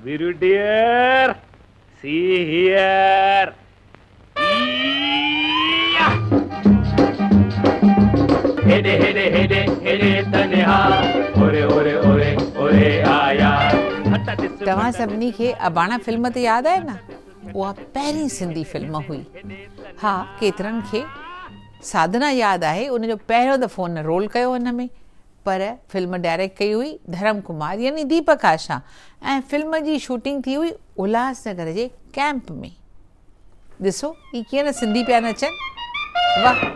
Very dear see here اييا. هيڏي هيڏي هيڏي هيڏي تنها اوري اوري اوري اوري آيا. هٽ ڏس مٽ توهان سڀني کي اباڻا فلم ته ياد آهي نه؟ اها پهرين سنڌي فلم هئي. ها ڪيترن کي ساڌنا ياد آهي ان جو پهريون دفعو هن رول ڪيو هو ان ۾ پر فلم ڊائريڪٽ ڪئي هئي ڌرم ڪمار يعني ديپڪ آشا ۽ فلم جي شوٽنگ ٿي هئي الهاسنگر جي ڪئمپ ۾. ڏسو هي ڪيئن نه سنڌي پيا نچن. واهه.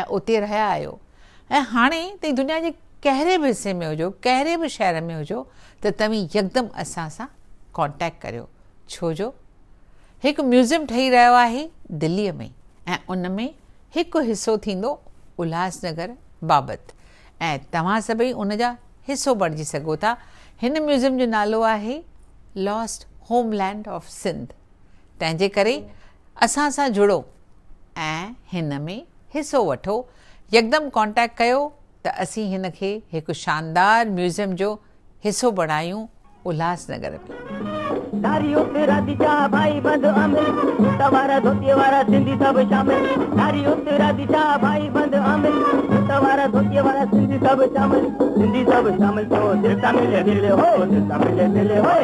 ۽ اتي رهيا آهيو ۽ هاڻي توهين دنيا جي ڪهڙي به حصي ۾ هجو ڪهڙي به شهر ۾ هجو ته توهين يڪدم اسان سان ڪانٽيڪٽ ڪريو ڇو جو هڪ ميوزيم ٺهي رهيو آهي دلي ۾ ۽ ان ۾ هڪ حصو ٿيندو الهاس نگر بابت ۽ توهان سڀئي ان جا حصو بڻجي سگهو ٿا هن ميوزيم جو نالو آهي Lost Homeland of Sindh. تنهنجي ڪري اسان سان جڙو ۽ هن ۾ حصو وٺو يڪدم ڪانٽيڪٽ ڪيو ته اسين هن کي هڪ شاندار ميوزيم جو حصو بڻايون الهاس نگر ۾.